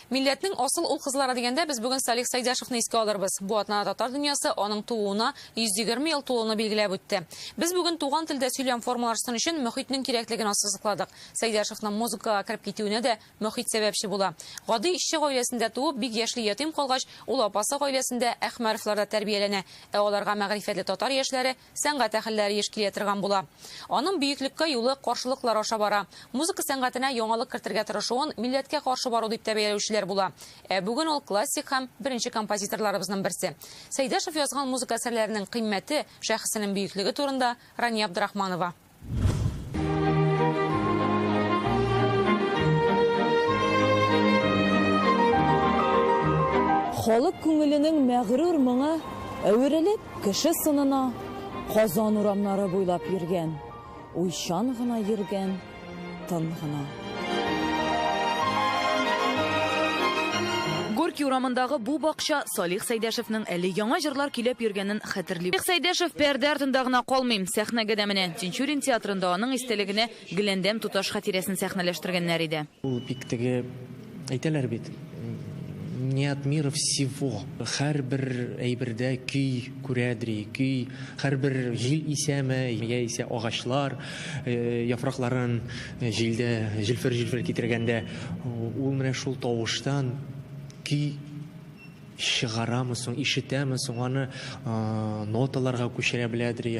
Милләтнең асыл ул-кызлары дигәндә, без бүген Салих Сәйдәшевны искә алырбыз. Бу атнада татар дөньясы аның тууына 120 ел тулуны билгеләп үтте. Без бүген туган телдә сөйләм формалашсын өчен мөхитнең кирәклеген ассызыкладык. Сәйдәшевның музыкага кереп китүенә дә мөхит сәбәпче була. Гади эшче гаиләсендә туып, бик яшьли ятим калгач, ул апасы гаиләсендә, Әхмәровларда тәрбияләнә. Ә аларга мәгърифәтле татар яшьләре, Сәнгать әһелләре еш килә торган була. Аның бөеклеккә юлы каршылыклар аша бара. Музыка сәнгатенә яңалык кертергә тырышуын милләткә каршы бару дип тә бәяләүчеләр була. Ә бүген ул классик һәм беренче композиторларыбызның берсе. Сәйдәшев язган музыка әсәрләренең кыйммәте, шәхесенең бөеклеге турында Рания Абдрахманова. Халык күңеленең мәгърур моңа әверелеп, кеше сынына Казан урамнары буйлап йөргән, уйчан гына йөргән Тын гына. Горький урамындагы бу бакча Салих Сәйдәшевнең әле яңа җырлар көйләп йөргәнен хәтерли. Салих Сәйдәшев пәрдә артында гына калмый, сәхнәгә дә менә. Тинчурин театрында аның истәлегенә Гөләндәм туташ хатирәсен сәхнәләштергәннәр иде. Ул бик теге Әйтәләр бит, не от мира всего. Һәрбер әйбердә көй күрәдри, көй һәрбер җил исәме, яисә агачлар яфракларын җилдә җилфер-җилфер китергәндә, ул менә шул тавыштан көй чыгарамы соң, ишетәме соң, аны ноталарга күчерә беләдри.